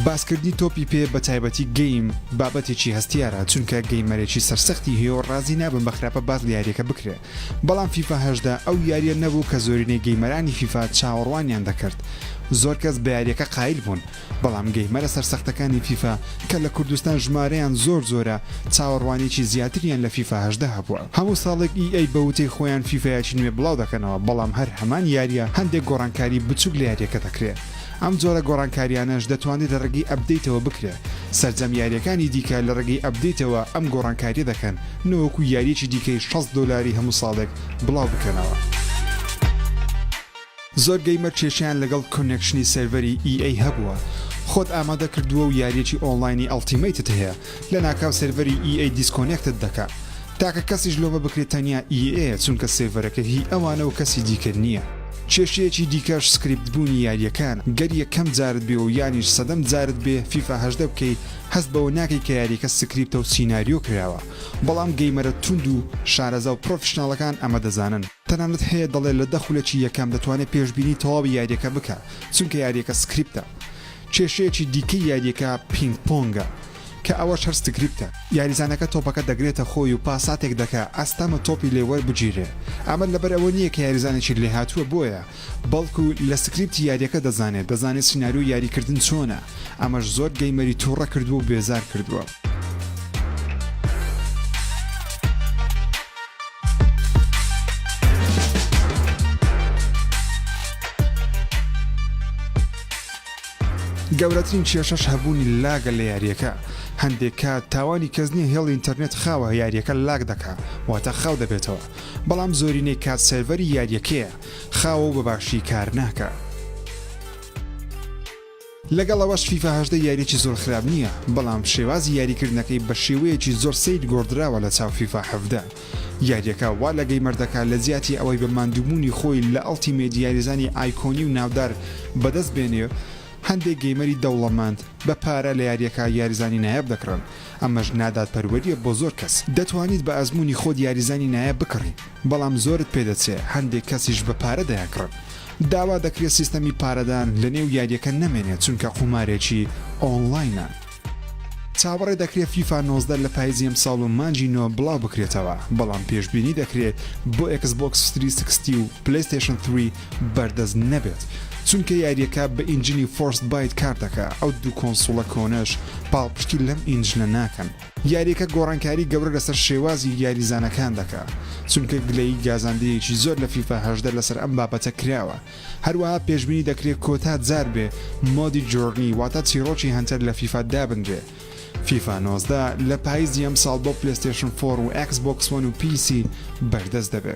باسکردنی تۆپی پێ بە تایبەتی گەیم بابەتێکی هەستیارە چونکە گەیمەرێکی سەرسەختی هەیە و ڕازی نابم بە خراپە باز لە یاریەکە بکرێت بەڵام فیفاهشدا ئەو یاریە نەبوو کە زۆرینەی گەیمەرانی فیفا چاوەڕوانیان دەکرد زۆر کەس بە یاریەکە قایل بوون بەڵام گەیمەرە سەرسەختەکانی فیفا کە لە کوردستان ژمارەیان زۆر زۆرە چاوەڕوانیی زیاتریان لە فیفا هەژدە هەبووە هەموو ساڵێک ئی ئەی بە وتەی خۆیان فیفایەکی نوێ بڵاو دەکەنەوە بەڵام هەر هەمان یارییە هەندێک گۆڕانکاری بچووک لە یارییەکە دەکرێ ئەم جۆرە گۆڕانکاریانەش دەتوانرێ لە ڕێگەی ئەپدەیتەوە بکرێ سەرجەم یارییەکانی دیکە لە ڕێگەی ئەپدەیتەوە ئەم گۆڕانکارییە دەکەن نەوەکو یارییەکی دیکەی شەست دۆلاری هەموو ساڵێک بڵاو بکەنەوە. زۆر گەیمەر کێشەیان لەگەڵ کۆنێکشنی سێرڤەری EA هەبووە خۆت ئامادە کردووە و یاریەکی ئۆنڵاینی ئەڵتیمەیتت هەیە لە ناکاو سێرڤەری EA دیسکۆنێکتت دەکا تاکە کەسیش لۆمە بکرێ تەنیا EA یە چونکە سێرڤەرەکە هی ئەوانە و کەسی دیکە نییە کێشەیەکی دیکەش سکریپت بوونی یاریەکانە گەر یەکەم جارت بێ و یانیش سەدەم جارت بێ فیفا هەژدە بکەی هەست بەوە ناکەی کە یاریەکە سکریپتە و سیناریۆ کراوە بەڵام گەیمەرە توند و شارەزا و پڕۆفیشناڵەکان ئەمە دەزانن. تەنانەت هەیە دەڵێ لە دە خولەکی یەکەم دەتوانێ پێشبینی تەواوی یاریەکە بکا چونکە یاریەکە سکریپتە. کێشەیەکی دیکەی یاریەکە پینگ پۆنگە کە ئەوەش هەر سکریپتە. یاریزانەکە تۆپەکە دەگرێتە خۆی و پاساتێک دەکا ئەستەمە تۆپی لێ وەربگیرێ. ئەمە لەبەر ئەوە نییە کە یاریزانێکی لێهاتووە بۆیە، بەڵکو لە سکریپتی یاریەکە دەزانێ، دەزانێ سیناریۆی یاریکردن چۆنە. ئەمەش زۆر گەیمەری توڕە کردووە و بێزار کردووە. گەورەترین کێشەش هەبوونی لاگە لە یاریەکە هەندێک کات تاوانی کەس نیە هێڵ ئینتەرنێت خاوە یاریەکە لاگ دەکا واتە خاو دەبێتەوە بەڵام زۆرینەی کات سێڤەری یاریەکەیە خاوە و بەباشی کار ناکە لەگەڵ ئەوەش فیفا هەژدە یاریەکی زۆر خراپ نییە بەڵام شێوازی یاری کردنەکەی بە شێوەیەکی زۆر سەیر گۆڕدراوە لە چاو فیفا حەڤدە یاریەکە وا لە گەیمەر دەکا لە جیاتی ئەوەی بە ماندووبوونی خۆی لە ئەڵتیمەیت یاریزانی ئایکۆنی و ناودار بەدەست بێنێ هەندێک گەیمەری دەوڵەمەند بە پارە لە یاریەکە یاریزانی نایاب دەکڕن ئەمەش نادادپەروەریە بۆ زۆر کەس دەتوانیت بە ئەزموونی خۆت یاریزانی نایاب بکڕی. بەڵام زۆرت پێ دەچێ هەندێک کەسیش بە پارە دەیانکڕن داوا دەکرێ سیستەمی پارەدان لە نێو یاریەکە نەمێنێ چونکە قومارێکی ئۆنڵاینە چاوەڕێ دەکرێ فیفا نۆزدە لە پایزی ئەمساڵ و مانگی نۆ بڵاو بکرێتەوە بەڵام پێشبینی دەکرێ بۆ ئێکس بۆکس سری سکستی و پلەیستەیشن ثری بەردەست نەبێت چونکە یاریەکە بە ئینجنی فۆرست بایت کار دەکا ئەو دوو کۆنسوڵە کۆنەش پاڵپشتی لەم ئینجنە ناکەن. یاریەکە گۆڕانکاری گەورە لەسەر شێوازی یاریزانەکان دەکا چونکە گلەیی گازاندەیەکی زۆر لە فیفا هەژدە لەسەر ئەم بابەتە کراوە هەروەها پێشبینی دەکرێ کۆتا جار بێ مۆدی جۆرنی واتە چیڕۆکی هەنتەر لە فیفا دابنرێ فیفا نۆزدە لە پایزی ئەمساڵ بۆ پلەستێشن فۆر و ئێکس بۆکس وەن و پیسی بەردەست دەبێ.